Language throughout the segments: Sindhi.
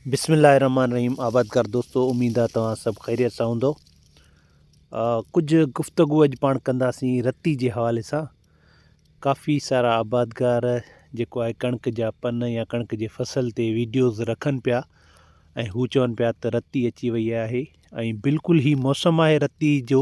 بسم الله الرحمن الرحيم آبادگار دوستو اميد آ توهان سڀ خيريت سان هوندو ڪجهه گفتگو اڄ پاڻ ڪنداسين رتي جي حوالي سان ڪافي سارا آبادگار جيڪو آهي ڪڻڪ جا پن يا ڪڻڪ جي فصل تي ويڊيوز رکن پيا ۽ هو چون پيا ته رتي اچي وئي آهي ۽ بلڪل هي موسم آهي رتي جو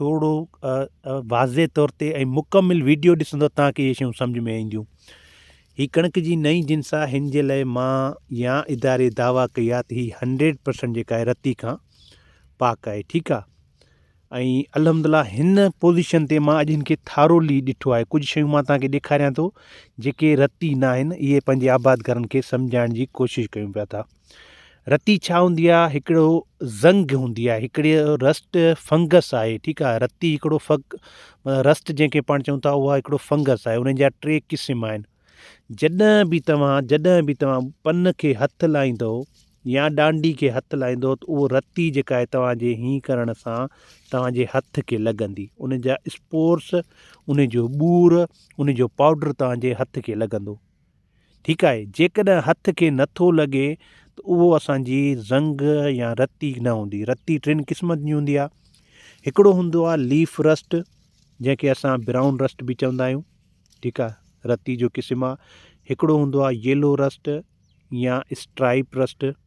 ٿورو واضع طور تي ۽ مڪمل ويڊيو ڏسندو تان کي اهي شيون سمجهه ۾ اينديون. هي ڪڻڪ جي نئين جنس آ هن جي لئي مان يا اداري دعويٰ ڪئي آ ته هي هنڊريڊ پرسنٽ جيڪا آهي رتي کان پاڪ آهي ٺيڪ آ ۽ الحمد الله هن پوزيشن تي مان اڄ هن کي ٿارولي ڏٺو آهي ڪجهه شيون مان تان کي ڏيکاريان ٿو جيڪي رتي ناهن اهي پنهنجي آبادگارن کي سمجهائڻ جي ڪوشش ڪيون پيا ٿا. رتي ڇا هوندي آهي هڪڙو زنگ هوندي آهي هڪڙي رسٽ فنگس آهي ٺيڪ آهي رتي هڪڙو فگ رسٽ جنهن کي پاڻ چون ٿا اها هڪڙو فنگس آهي ان جا ٽي قسم آهن جڏهن به توهان جڏهن به توهان پن کي هٿ لائيندو يا ڏانڊي کي هٿ لائيندو ته اهو رتي جيڪا آهي توهانجي هين ڪرڻ سان توهانجي هٿ کي لڳندي ان جا اسپورس ان جو ٻور ان جو پاؤڊر توهانجي هٿ کي لڳندو ٺيڪ آهي، جيڪڏهن هٿ کي نه ٿو لڳي ته اهو اسان جي زنگ يا رتي نه هوندي. رتي ٽن قسمن جي هوندي آهي. هڪڙو هوندو آهي ليف رسٽ جنهن کي اسان برائون رسٽ به چوندا آهيون. ٺيڪ آهي، رتي جو قسم آهي. هڪڙو هوندو آهي ييلو رسٽ يا اسٽرائيپ رسٽ.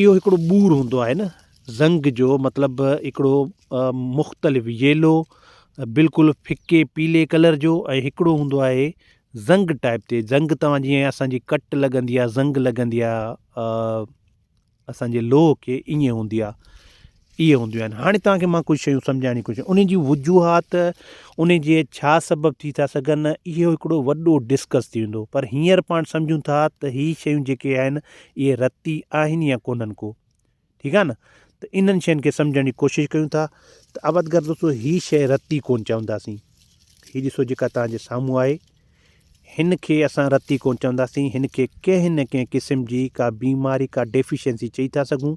اهو هڪڙو ٻور هوندو آهي نه زنگ جو مطلب هڪڙو مختلف ييلو بلڪل ڦڪي پيلي ڪلر جو ۽ هڪڙو هوندو آهي زنگ ٽائپ تي زنگ توهان جيئن اسانجي ڪٽ لڳندي آهي زنگ لڳندي آهي اسانجي لوهه کي ائين هوندي آهي اهي هونديون آهن هاڻي توهان کي مان ڪجهه شيون سمجهائڻ جي ڪوشش انهن جي وجوهات انهن جي ڇا سبب ٿي ٿا سگهن اهو هڪڙو وڏو ڊسڪس ٿي ويندو پر هينئر پاڻ سمجهون ٿا ته هي شيون جيڪي آهن اهي رتي آهن يا ڪونهن ڪو ٺيڪ آهي نه ته انهن شين کي سمجهڻ جي ڪوشش ڪيون ٿا ته اول ڳالهه دوستو هي شيء رتي ڪونهن چونداسين هي ڏسو جيڪا توهان جي سامهون آهي هن کي اسان رتي ڪون چونداسين هن کي ڪنهن نه ڪنهن قسم جي ڪا بيماري ڪا ڊيفيشنسي چئي ٿا سگهون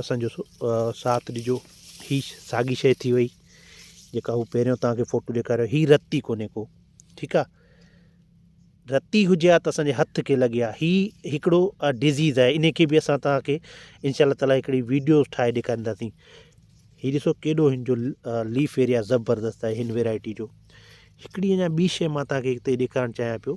اسان جو ساٿ ڏجو. هي ساڳي شيء ٿي وئي جيڪا هو پهريون توهان کي فوٽو ڏيکاريو هي رتي ڪونهي ڪو ٺيڪ آ رتي هجي ها ته اسان جي هٿ کي لڳي ها هي هڪڙو ڊزيز آهي ان کي به اسان توهان کي انشاء الله تعاليٰ هڪڙي ويڊيو ٺاهي ڏيکارينداسين هي ڏسو ڪيڏو هن جو ليف ايريا زبردست آهي هن ويرائٽي جو هڪڙي اڃا ٻي شيء مان توهان کي هتي ڏيکارڻ چاهيان پيو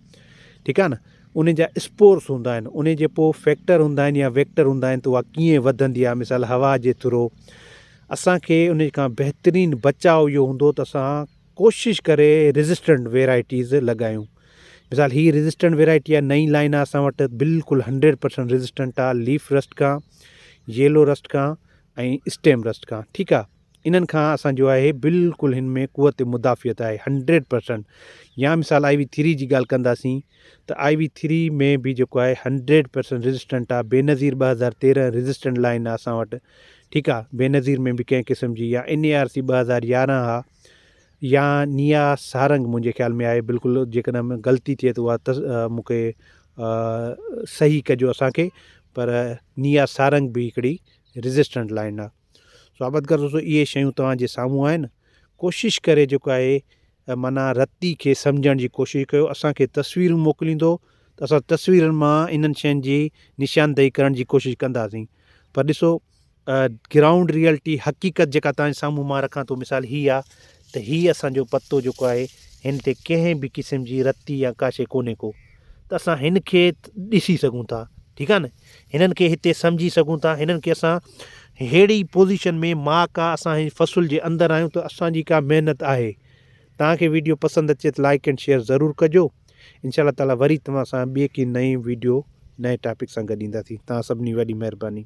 ٺيڪ آهي نه انهي جا اسپورس هوندا آهن انهي جي پوء فيڪٽر هوندا آهن يا ويڪٽر هوندا آهن ته اها ڪيئن وڌندي آهي مثال هوا جي ٿرو اسان کي انهي کان بهترين بچاء اهو هوندو ته اسان ڪوشش ڪري ريزسٽنٽ ويرائٽيز لڳايون مثال هي ريزسٽنٽ ويرائٽي آهي نئين لائن آهي اسان وٽ بلڪل هنڊريڊ پرسنٽ ريزسٽنٽ آهي ليف رسٽ کان ييلو رسٽ کان ۽ اسٽيم رسٽ کان ٺيڪ آهي انهن کان اسان جو آهي بلڪل هن ۾ قوت مدافعت آهي هنڊريڊ پرسنٽ يا مثال آئي وي ٿري جي ڳالهه ڪنداسين ته آئي وي ٿري ۾ به جيڪو آهي هنڊريڊ پرسنٽ ريزسٽنٽ آهي بينظير ٻه هزار تيرهن ريزسٽنٽ لائن آهي اسان وٽ ٺيڪ آهي بينظير ۾ به ڪنهن قسم جي يا ان اي آر سي ٻه هزار يارهن آهي يا نيا سارنگ منهنجي خيال ۾ آهي بلڪل جيڪڏهن غلطي ٿئي ته اها مون کي صحيح ڪجو اسان کي پر نيا سارنگ به هڪڙي ريزسٽنٽ لائن آهي صحابت ڪر دوستو اهي شيون توهان جي سامهون آهن ڪوشش ڪري جيڪو آهي معنيٰ رتي کي سمجهڻ جي ڪوشش ڪيو اسانکي تصويرون موڪليندو ته اسان تصويرن مان انهن شين جي نشاندهي ڪرڻ جي ڪوشش ڪنداسين پر ڏسو گرائونڊ ريئلٽي حقيقت جيڪا توهان جي سامهون مان رکان ٿو مثال هي آ ته هي اسانجو پتو جيڪو آهي هن تي ڪنهن به قسم جي رتي يا ڪا شيء ڪونهي ڪو ته اسان هن کي ڏسي سگهون ٿا ٺيڪ آ نه هنن کي هتي سمجهي سگهون ٿا هنن کي اسان ههڙي پوزيشن ۾ ماء ڪا اسان هن فصل جي اندر آهيون ته اسان جي ڪا محنت آهي توهان کي ويڊيو پسند اچي ته لائيڪ اينڊ شيئر ضرور ڪجو ان شاء الله تعالي وري توهان سان ٻي ڪي نئين ويڊيو نئين ٽاپڪ سان گڏ اينداسين توهان سڀني وڏي مهرباني.